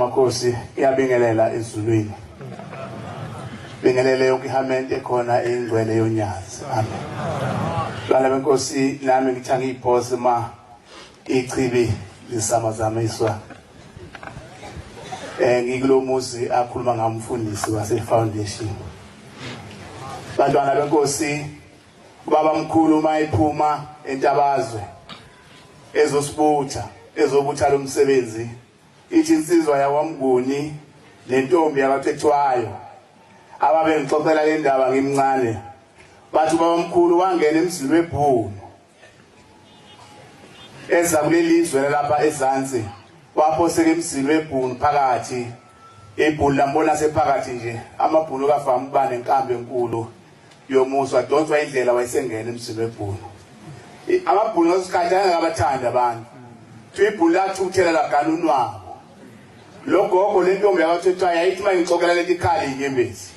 Makhosi iyabingelela ezulwini bingelele yonke ihamente ekhona ingcwele yonyazi amen bana benkosi nami ngithanga iphose ma ichibi lisama zama iswa Eh ngikulomuzi akhuluma ngamfundisi wase foundation. Bantwana benkosi ubaba mkhulu uma ephuma entabazwe ezosibutha ezobutha lomsebenzi ithi insizwa yakwamnguni nentombi yabathethwayo ababengixoxela le ndaba ngimncane bathi ubabamkhulu wangena emzini webhunu eza kuleli zwe lalapha ezansi waphoseka emzini webhunu phakathi ibhunu lambona sephakathi nje amabhunu kafama uba nenkambi enkulu yomusa wadonswa indlela wayesengena emzini webhunu amabhunu ngesikhathi ayengakabathandi abantu kuthiwa ibhunu lathuthela lagana unwabo lo gogo le ntombi yakathethwayo yayithi uma ngixokela leti khali inyembezi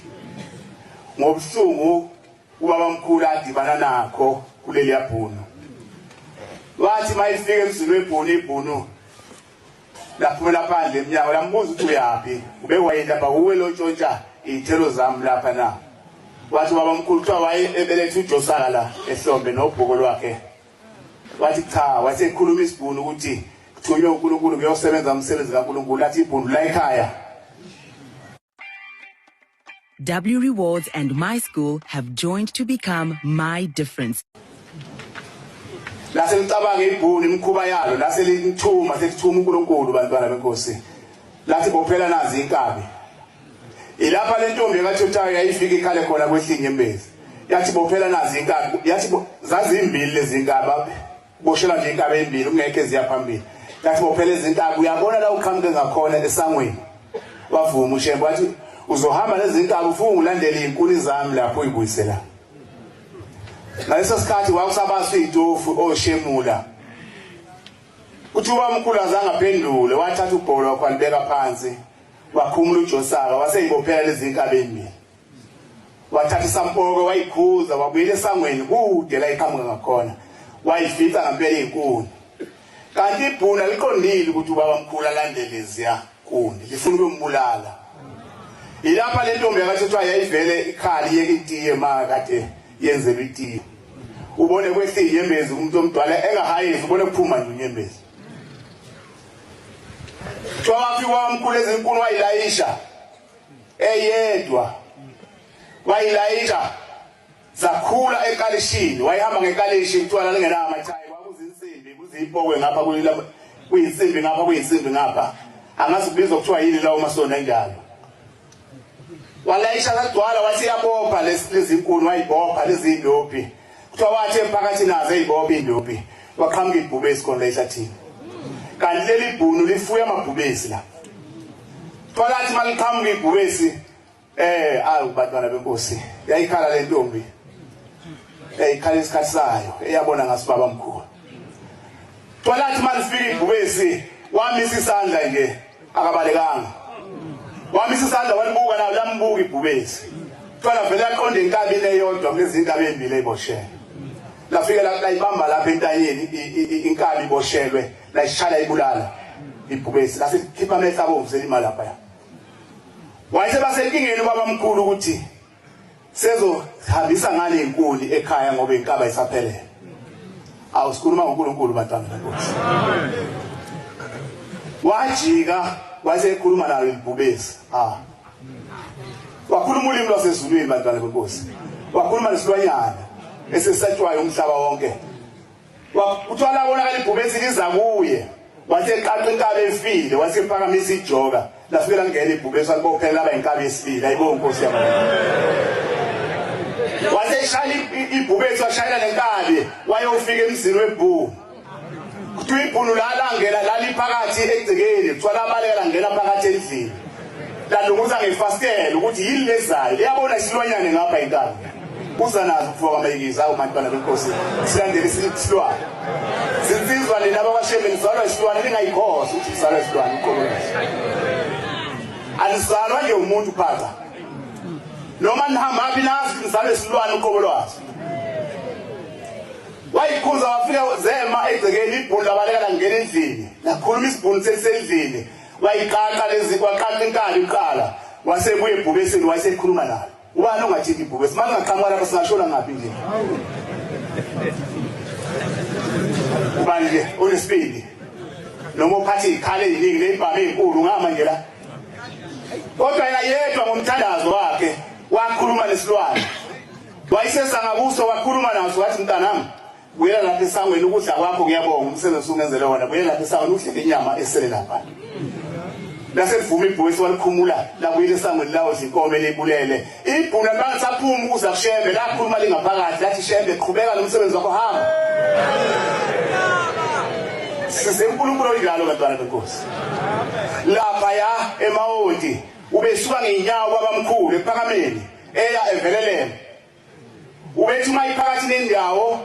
ngobuhlungu Ubabamkhulu adibana nakho kuleliya bhunu wathi mayifika emzini webhunu ibhunu laphumela phandle emnyango lambuza ukuthi uyaphi ube wayelapha kuwe lontshontsha iy'thelo zami lapha na wathi ubaba mkhulu kuthiwa waye ebeletha ujosaka la ehlombe nobhuko lwakhe wathi cha wasekhuluma isibhunu ukuthi kuthunywe unkulunkulu kuyosebenza umsebenzi kankulunkulu athi ibhunu la ekhaya W Rewards and My School have joined to become My Difference. lase licabange ibhuni imikhuba yalo lase lithuma selithuma uNkulunkulu bantwana benkosi lathi bophela nazi inkabi ilapha le ntombi ekathuthayo yayifika ikhale khona kwehlinye embezi yathi bophela nazi inkabi yathi zazimbili lezi nkabi Boshela nje intaba ezimbili kungekho eziya phambili. Ngathi bophela izintaba uyabona la uqhamuke ngakhona esangweni. Wavuma uShembe wathi uzohamba nezintaba ufunga ulandele izinkuni zami lapho uyibuyisela. Ngaleso sikhathi wakusabaswa itofu oshemula. Oh, Uthi ubamkhulu azange aphendule wathatha ubholo wakho alibeka phansi wakhumula uJosaka waseyibophela lezinkabi ezimbili. Wathatha isampoke wayikhuza wabuyela esangweni kude la iqhamuka ngakhona. Wayifica ngempela inkuni. Kanti ibhuna liqondile ukuthi ubaba mkhulu alandelezya kuni lifuna ukumbulala. Ilapha le ntombi yakathethiwa yayivele ikhali yeke itiye ma kade yenzelwe itiye. Ubone kwehlile inyembezi umuntu omdala engahayezi ubone kuphuma nje unyembezi. Kuthiwa wafika wamkhulu ezinkulu wayilayisha eyedwa wayilayita zakhula ekalishini wayihamba ngekalishi utshwala lingenama mathayi kwakuzinsimbi kuzipokwe ngapha kuyilapha kuyinsimbi ngapha kuyinsimbi ngapha angazi kubizwa kuthiwa yini lawo masonto enjalo walayisha sagcwala wathi yabopha lezi zinkuni wayibopha lezi ndophi kuthiwa wathi emphakathi nazo eyibobe indubi kwaqhamuka ibhubesi khona ehlathini kanti leli bhunu lifuya amabhubesi la kuthiwa lathi uma liqhamuka ibhubesi um eh, awu bantwana benkosi yayikhala le ntombi yayikhala isikhathi sayo eyabona ngasibaba mkhulu kuthiwa lathi uma lifika ibhubesi wamisa isandla nje akabalekanga wamisa isandla walibuka nayo lambuka ibhubesi kuthiwa lavele yaqonda enkabini eyodwa kulezi nkabi ey'mbili ey'boshelwe lafike layibamba lapha entanyeni inkabi iboshelwe layishala ibulala ibhubesi lasikhipha amehla abomvu selimalaphaya wayesebasenkingeni ubabamkhulu ukuthi sezohambisa ngale inkuni ekhaya ngoba inkaba isaphelele awu sikhuluma ngoNkulunkulu bantwana benkosi wajika wayesekhuluma nayo imbhubesi ah wakhuluma ulimi lwasezulwini bantwana benkosi wakhuluma nesilwanyana esesatshwayo umhlaba wonke Kuthiwa labonakala ibhubesi liza kuye wathi eqaqa inkabi efile wathi ephakamisa ijoka lafike langena ibhubesi walibophela laba inkabi esibili ayibo nkosi yabo wathi eshaya ibhubesi washayela nenkabi wayofika emzini webhulu kuthiwa ibhulu lalangela laliphakathi egcekeni kuthiwa labaleka langena phakathi endlini Ladunguza ngefastela ukuthi yini lezayo liyabona isilwanyane ngapha inkani uza nazo kufa kwamayikiza awu mantwana benkosi silandele isilwane zinsizwa nina bakwashembe nizalwa isilwane ningayikhosi ukuthi sizalwa isilwane uqokolasi anizalwa nje umuntu phaza noma nihambaphi nazi nizalwa isilwane uqokolwazi wayikhuza wafika zema egcekeni ibhulu labaleka langena endlini lakhuluma isibhunu selisendlini Wayiqaqa lezi waqaqa inkani kuqala wasebuya ebhubesini wayesekhuluma nayo. Ubani ongathinta ibhubesi? Manje ngaqhamuka lapha singashona ngaphi nje? Ubani ke onesibindi? Noma uphathe ikhale eziningi nezibhamu ezinkulu ngama nje la. Kodwa yena yedwa ngomthandazo wakhe wakhuluma nesilwane. Wayisesanga kuso wakhuluma naso wathi mntanami Buyela lapha esangweni ukudla kwakho ngiyabonga umsebenzi usungenzele wona buyela lapha esangweni udle inyama esele lapha laselivuma ibhuku esiwalikhumula labuyela esangweni lawo zinkomo elibulele ibhuku labantu saphuma ukuza kushembe lakhuluma lingaphakathi lathi shembe qhubeka nomsebenzi wakho hamba size uNkulunkulu oyidlalo bantwana benkosi lapha ya emawodi ubesuka ngenyawo kwabamkhulu ephakameni eya eveleleni Ubethi uma iphakathi nendawo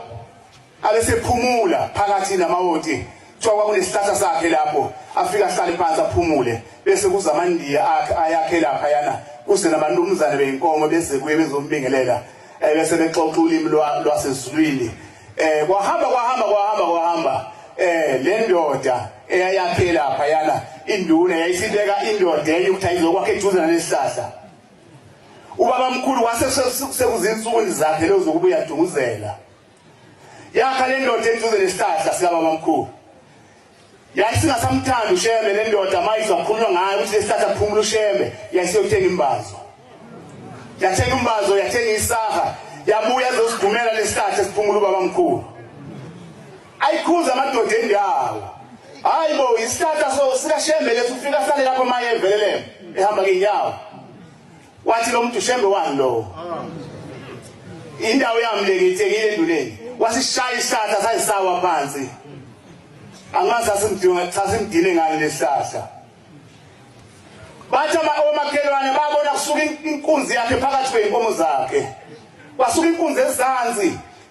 abesephumula phakathi namawoti kuthiwa kwakunesihlahla sakhe lapho afika ahlale phansi aphumule bese kuza amandiya akhe ayakhe lapha yana kuze nabantumzane beyinkomo bese kuye bezombingelela ebese bexoxa ulimi lwasezulwini eh kwahamba kwahamba kwahamba kwahamba eh le ndoda eyayakhe lapha yana induna yayisibeka indoda enye ukuthi ayizokwakhe eduze nalesihlahla ubabamkhulu wase sekuzinsukwini zakhe lezo zokuba uyadunguzela yakha le ndoda eduze nesihlahla sikababamkhulu yayisingasamthandi ushembe le ndoda mayizwa kukhulunywa ngayo ukuthi lesihlahla kuphumula ushembe yayiseyothenga imbazo yathenga imbazo yathenga isaha yabuya ezosidumela lesihlahla siphumula ubabamkhulu Ayikhuza amadoda endawo. Hayi bo isihlahla so sikashembe leso ufika sale lapho maye evelele ehamba ngenyawo. Wathi lo muntu shembe wani lo? Indawo yami le ngithekile enduleni. Wasishaya isihlahla sayisawa phansi. Angazi asimdinga cha simdine ngani lesihlahla. Bathi ama omakhelwane babona kusuka inkunzi yakhe phakathi kweinkomo zakhe. Kwasuka inkunzi ezansi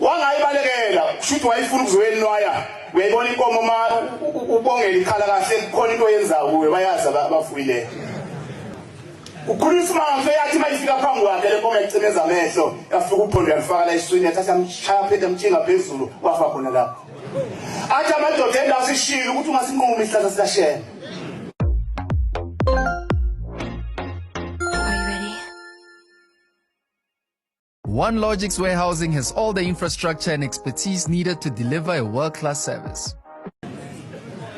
wangayibalekela kushuthi wayifuna ukuzoyenwaya uyayibona inkomo ma ubongela ikhala kahle kukhona into oyenzayo kuwe bayazi abafuyileyo ukhuluma isimanga so yathi uma ifika phambi kwakhe le nkomo yacimeza amehlo yafika uphondo yalifaka la eswini yathatha amshaya phinde amtshinga phezulu wafa khona lapho athi amadoda endawo sishile ukuthi ungasinqumi isihlahla sikashena One Logics Warehousing has all the infrastructure and expertise needed to deliver a world-class service.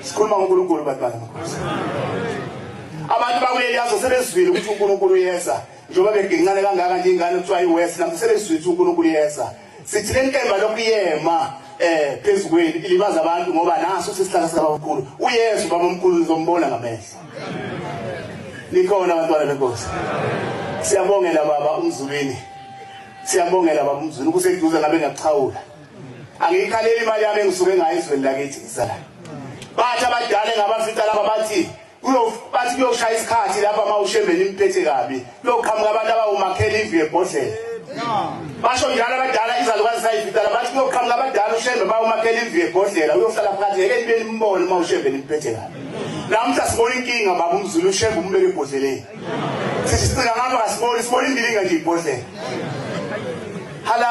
sikhuluma ngoNkulunkulu bantu bakaNkulunkulu abantu bakuleli yazo sebezwile ukuthi uNkulunkulu yeza njengoba begincane kangaka nje ingane kuthiwa iwest nabo sebezwile ukuthi uNkulunkulu yeza sithi le nkemba lokuyema eh phezu kwenu ilibaza abantu ngoba naso sisihlala sikabamkhulu uyesu babamkhulu nizombona ngamehlo Nikhona abantwana benkosi. Siyabongela baba umzulwini. Siyabongela baba umzulwini kuseduze ngabe ngakuchawula. Angiyikhaleli imali yami engisuke ngayo ezweni lakithi isala. Bathi abadala ngabafica laba bathi uyobathi kuyoshaya isikhathi lapha mawushembeni imphethe kabi. Kuyoqhamuka abantu abawumakhela imvu yebhodlela. Basho njalo abadala izalukazi sayivitala bathi kuyoqhamuka abadala uShembe bawumakhela imvu yebhodlela uyohlala phakathi ngeke nibe nimbone uma uShembe nimphethe kabi. Namhla sibona inkinga baba umZulu uShembe umbeke ebhodleleni. Sithi sicika ngapha kasiboni sibona indilinga nje ibhodlela. Hala